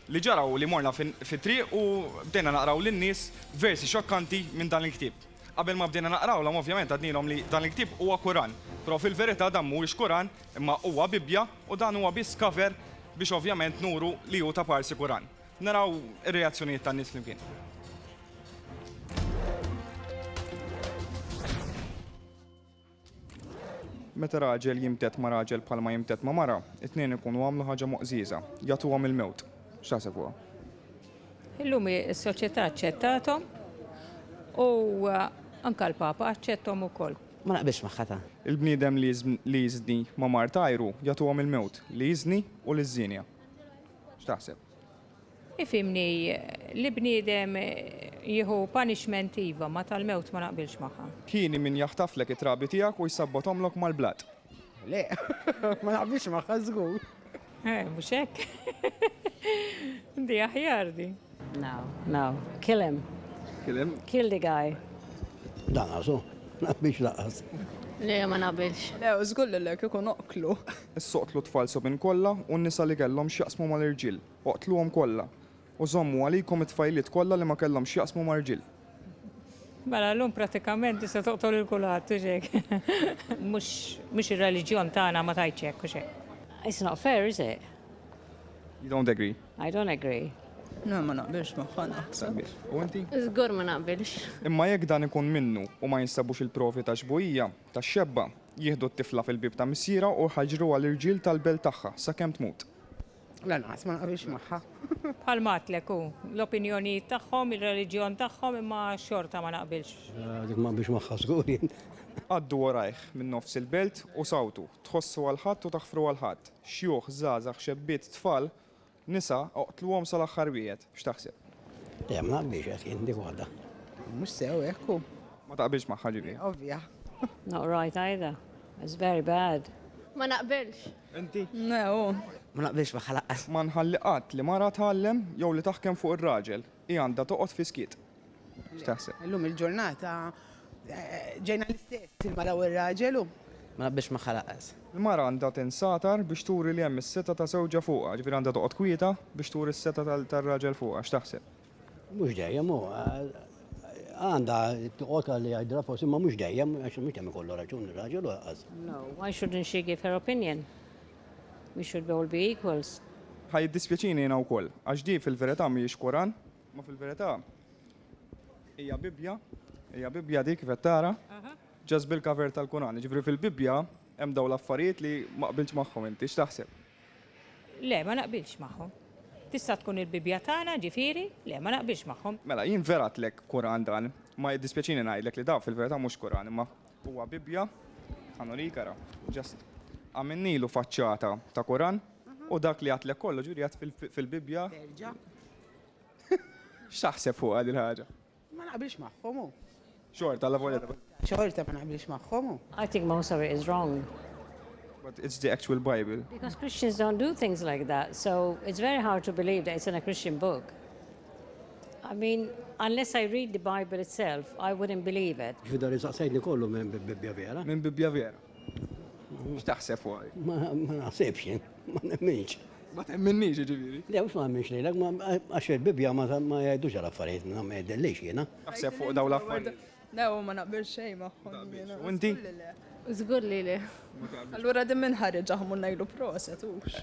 Li ġara hu li morna fit-triq u bdejna naqraw lin-nies versi xokkanti minn dan il-ktieb. Qabel ma bdejna naqrawlhom ovvjament għadnielhom li dan il-ktieb huwa Kuran, però fil-verità dan mhuwiex Kuran imma huwa Bibbja u dan huwa biss cover biex ovvjament nuru li hu ta' parsi Kuran. Naraw ir-reazzjonijiet tan-nies flimkien. Meta raġel jimtedd ma' raġel bħal ma jimtedd ma' mara, it-tnejn ikunu għamlu ħaġa moqżieża, jagħtuhom il-mewt. X'taħseb fuqha? Illum is-soċjetà aċċettathom u anke l-Papa aċċetthom ukoll. Ma naqbilx magħha ta. Il-bniedem li jiżni ma' mart għajru, jagħtuhom il-mewt, li jiżni u liż-żienja. X'taħseb? Ifhimni, li bniedem jieħu punishment iva, ma tal-mewt ma naqbilx magħha. Hieni min jaħtaflek it-trabi tiegħek u jsabbothomlok mal-blat. Le, ma naqbilx magħha żgur. Eh, mhux hekk? Di aħjar di. No, no, kill him. Kill him? Kill the guy. Lanqas hu, ma naqbilx lanqas. Le, ma naqbilx. Le, żgur li le, kieku noqtlu. Issoqtlu t-tfal sobin kollha u n-nisa li kellhom x'jaqsmu mal-irġiel. Oqtluhom kollha, u żommu għalikom it-tfajliet kollha li ma kellhomx x'jaqsmu ma' rġiel. Mela llum prattikament tista' toqtol lil kulħadd, hux hekk? Mhux, mhux ir-reliġjon tagħna ma tgħidx hekk, hux hekk? It's not fair, is it? You don't agree? I don't agree. Le, ma naqbilx magħha, naħseb. U inti? Żgur ma naqbilx. Imma jekk dan ikun minnu u ma jinstabux il-provi ta' xbuhija, ta' xebba, jieħdu t-tifla fil-bieb ta' missierha u jħaġġruha l-irġiel tal-belt tagħha sakemm tmut. Lanqas ma naqbilx magħha. Bħal matlek hu, l-opinjonijiet tagħhom, ir-reliġjon tagħhom imma xorta ma naqbilx. Eh, dik ma naqbilx magħha żgur jien. Għaddu warajh minn nofs il-belt u sawtu, tħossu għal ħadd u taħfru għal ħadd. Xjuħ, żgħażagħ, xebbiet, tfal, nisa, oqtluhom sal-aħħar wieħed. X'taħseb? Le, ma naqbilx hekk jien dik waħda. Mhux sew hekk hu. Ma taqbilx magħha ġifieri? Ovvja. Not right either. It's very bad. Ma naqbilx. Inti? Le, hu. Ma naqbilx magħha lanqas. Ma nħalli qatt li mara tgħallem jew li taħkem fuq ir-raġel. Hi għandha toqgħod fis-skiet. X'taħseb? Illum il-ġurnata ġejna l-istess il-mara u r-raġel u. Ma naqbilx magħha lanqas. Il-mara għandha tinsatar biex turi li hemm is-setgħa ta' żewġha fuqha, jiġifieri għandha toqgħod kwieta biex turi s-setgħa tar-raġel fuqha. X'taħseb? Mhux dejjem hu. Għandha toqgħod għalli jgħidilha forsi imma mhux dejjem għax mhux dejjem ikollu raġun ir-raġel u lanqas. No, why shouldn't she give her opinion? We should all be equals. Ħa jiddispjaċini jiena wkoll, għax di fil-verità mhijiex Koran, Ma fil-verità hija Bibbja, hija Bibbja dik kif qed tara, ġast bil-cover tal-Kuran. Jiġifieri fil-Bibbja hemm dawn l-affarijiet li ma qbiltx magħhom inti, x'taħseb? Le, ma naqbilx magħhom. Tista' tkun il-Bibbja tagħna, ġifieri, le, ma naqbilx magħhom. Mela, jien vera għedtlek Kuran dan, imma jiddispjaċini ngħidlek li dan fil-verità mhux Kuran imma huwa Bibbja, ħa nurik ara, ġast għamilnilu faċċata ta' Kuran u dak li għedtlek kollu ġifieri għedt fil-Bibbja. Terġa'. X'taħseb fuqha din ħaġa? Ma naqbilx magħhom hu. Xorta la volja. Xorta ma naqbilx magħhom hu. I think most of it is wrong. But it's the actual Bible. Because Christians don't do things like that, so it's very hard to believe that it's in a Christian book. I mean, unless I read the Bible itself, I wouldn't believe it. Ġvidar insaqsajtni kollu minn Bibbja vera. Minn Bibbja vera. X'taħseb fuq? Ma naħsibx, ma nemminx. Ma temminniex ġifieri? Le, mhux ma nemminx lilek, għax il-Bibbja ma jgħidux għal affarijiet, ma jgħidillix jiena. Taħseb fuq dawn l-affarijiet? Le, ma naqbel xejn magħhom. U inti? Żgur li le. Allura din minn ħareġ aħmu ngħidu proset hux.